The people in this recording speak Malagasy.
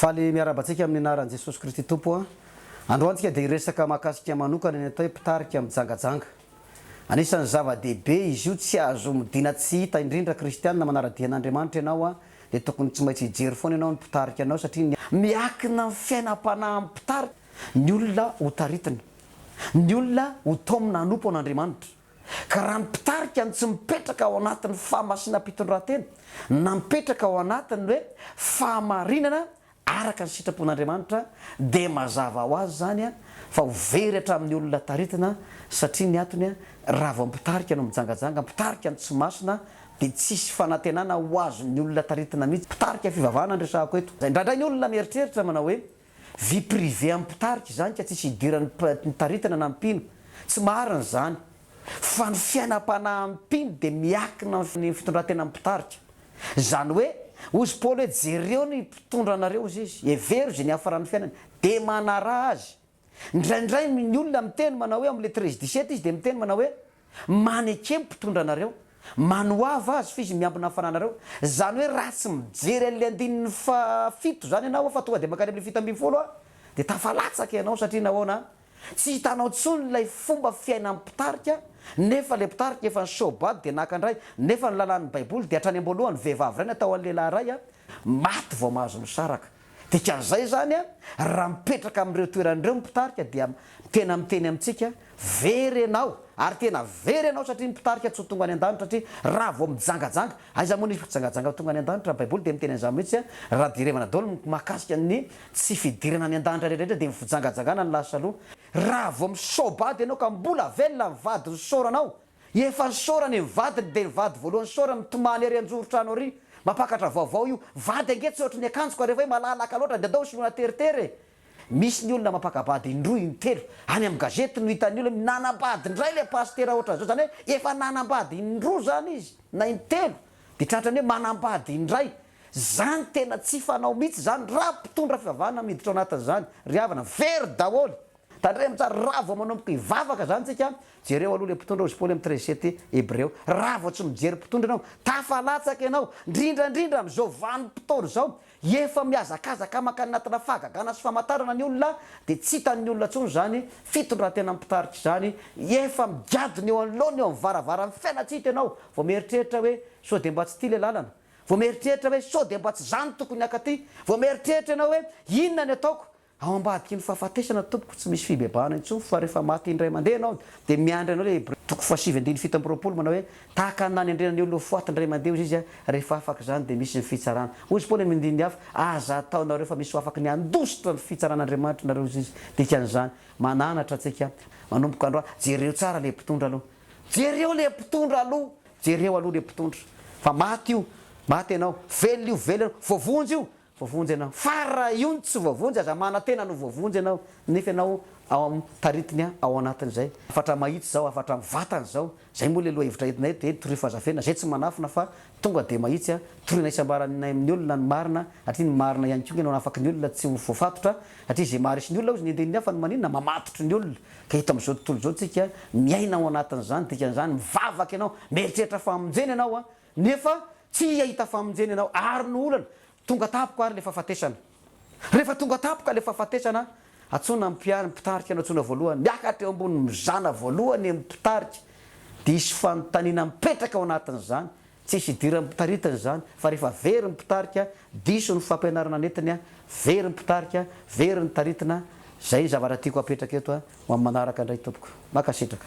Faly miarahaba antsika amin'ny anaran'i Jesosy Kristy Tompo a! Androany tsika dia hiresaka mahakasika manokana ny atao hoe mpitarika mijangajanga. Anisan'ny zava-dehibe izy io tsy azo omidina tsy hita indrindra kristianina manara-dia an'Andriamanitra ianao a! dia tokony tsy maintsy hijery foana ianao ny mpitarika anao satria ny Miankina amin'ny fiainam-panahy amin'ny mpitarika ny olona ho taritina. Ny olona ho taomina hanompo an'Andriamanitra. Ka raha ny mpitarika no tsy mipetraka ao anatin'ny fahamasinam-pitondrantena na mipetraka ao anatin'ny hoe fahamarinana araka ny sitrapon'Andriamanitra dia mazava ho azy izany fa ho very hatramin'ny olona taritina satria ny antony raha vao mpitarika no mijangajanga mpitarika no tsy masina dia tsisy fanantenana ho azon'ny olona taritina mihitsy mpitarika fivavahana no resahako eto indraindray ny olona mieritreritra manao hoe Vie privée an'ny mpitarika izany ka tsisy idiran'ny mpitaritana na mpino. Tsy marina izany. Fa ny fiainam-panahin'ny mpino dia miakina amin'ny fitondran-tenan'ny mpitarika. Izany hoe, hoy izy Paoly hoe jereo ny mpitondra anareo hozy izy, hevero izay niafaran'ny fiainany, dia manaraha azy. Indraindray ny olona miteny manao hoe ao amin'ny lettres dix-sept izy dia miteny manao hoe. Manekembo mpitondra anareo, manoava azy f'izy miambina ny fananareo. Zany hoe raha tsy mijery an'le andininy faha fito zany ianao fa tonga de mankany amle fito ambin'ny folo de tafalatsaka ianao satria nahoana? Tsy hitanao tsony ilay fomba fiainan'ny mpitarika nefa le mpitarika efa ny show bad de naka ndray nefa ny lalàn'ny baiboly de hatrany amboalohany vehivavy ray natao an'lehilahy ray maty vao mahazo misaraka. Dikan'izay izany an, raha mipetraka amin'ireo toerana ireo ny mpitarika dia tena miteny amintsika, very ianao, ary tena very ianao satria ny mpitarika tsy ho tonga any an-danitra satria raha vao mijangajanga, aiza moa nisy mpijangajanga tonga any an-danitra, ny baiboly dia miteny an'izany mihitsy an, raha jerevana daholo ny mahakasika ny tsy fidirana any an-danitra rehetrarehetra dia ny fijangajangana no lasa aloha, raha vao misaobady ianao ka mbola velona ny vadin'ny soranao Efa nisaorana e ny vadiny dia ny vady voalohany nisaorana mitomany ery anjoro trano ary mampakatra vaovao io vady ange tsy ohatry ny akanjoko ary efa hoe malalaka loatra dia andao soloina teritery e! Misy ny olona mampakabady indroa intelo any amin'ny gazety no hitan'ny olona hoe nanambady indray ilay pasitera ohatran'izao izany hoe efa nanambady indroa izany izy na intelo dia tratran'ny hoe manambady indray izany tena tsy fanao mihitsy izany raha mpitondra fivavahana miditra ao anatin'izany ry havana very daholo Tandremo tsara, raha vao manomboka hivavaka zany tsika, jereo aloha le mpitondra ozy Paoly am treize sept Hebreo, raha vao tsy mijery mpitondra enao, tafalatsaka enao, ndrindra ndrindra am zao vanim potoana zao, efa mihazakazaka mankany anatina fahagagana sy famatarana ny olona, de tsy hitan ny olona tsony zany fitondrantena mpitarika zany, efa migadona eo anoloana eo am varavaran fiainantsika enao, vao mieritreritra hoe sao de mba tsy ty le lalana, vao mieritreritra hoe sao de mba tsy zany tokony haka ty, vao mieritreritra enao hoe inona ny ataoko, Ao ambadiky ny fahafatesana tompoko tsy misy fibebahana intsony fa rehefa maty indray mandeha ianao dia miandry anao ilay Hebreo toko fahasivy andininy fito amby roapolo manao hoe tahaka ny nanendrena ny olona ho faty indray mandeha hozy izy a rehefa afaka izany dia misy ny fitsarana hozy koa any amin'ny andininy hafa aza ataonareo fa misy ho afaka ny handositra ny fitsaran'Andriamanitra nareo hozy izy dikan'izany mananatra antsika manomboka andro a jereo tsara ilay mpitondra aloha jereo ilay mpitondra aloha jereo aloha ilay mpitondra fa maty io maty ianao velona io velona ianao voavonjy io Voavonjy ianao. Fa raha io no tsy voavonjy, aza manantena ny ho voavonjy ianao, nefa ianao ao amin'ny taritina an, ao anatin'izay. Hafatra mahitsy izao, hafatra mivantana izao. Izay moa ilay lohahevitra entinay eto dia hoe torio fahazafena, izay tsy manafina fa tonga dia mahitsy an, toriana isambaranay amin'ny olona ny marina, satria ny marina ihany koa no hanafaky ny olona tsy ho voafatotra, satria izay maharesy ny olona hozy ny enden'ny hafa no maninona? Mamatotry ny olona. Ka eto amin'izao tontolo izao isika miaina ao anatin'izany, dikan'izany mivavaka ianao, mieritreritra famonjena ianao an, Nefa tsy hahita famonjena ianao ary no olana, tonga tampoka ary le fahafatesana. Rehefa tonga tampoka le fahafatesana, antsoina ny mpiary, ny mpitarika no antsoina voalohany, miakatra eo ambony, mizana voalohany ny mpitarika, dia hisy fanontaniana mipetraka ao anatin'izany, tsy hisy idiran'ny mpitaritana izany, fa rehefa very ny mpitarika, diso ny fampianarana nentiny, very ny mpitarika, very ny taritina, izay ny zavatra tiako hapetraka eto, Ho amin'ny manaraka indray tompoko. Mankasitraka.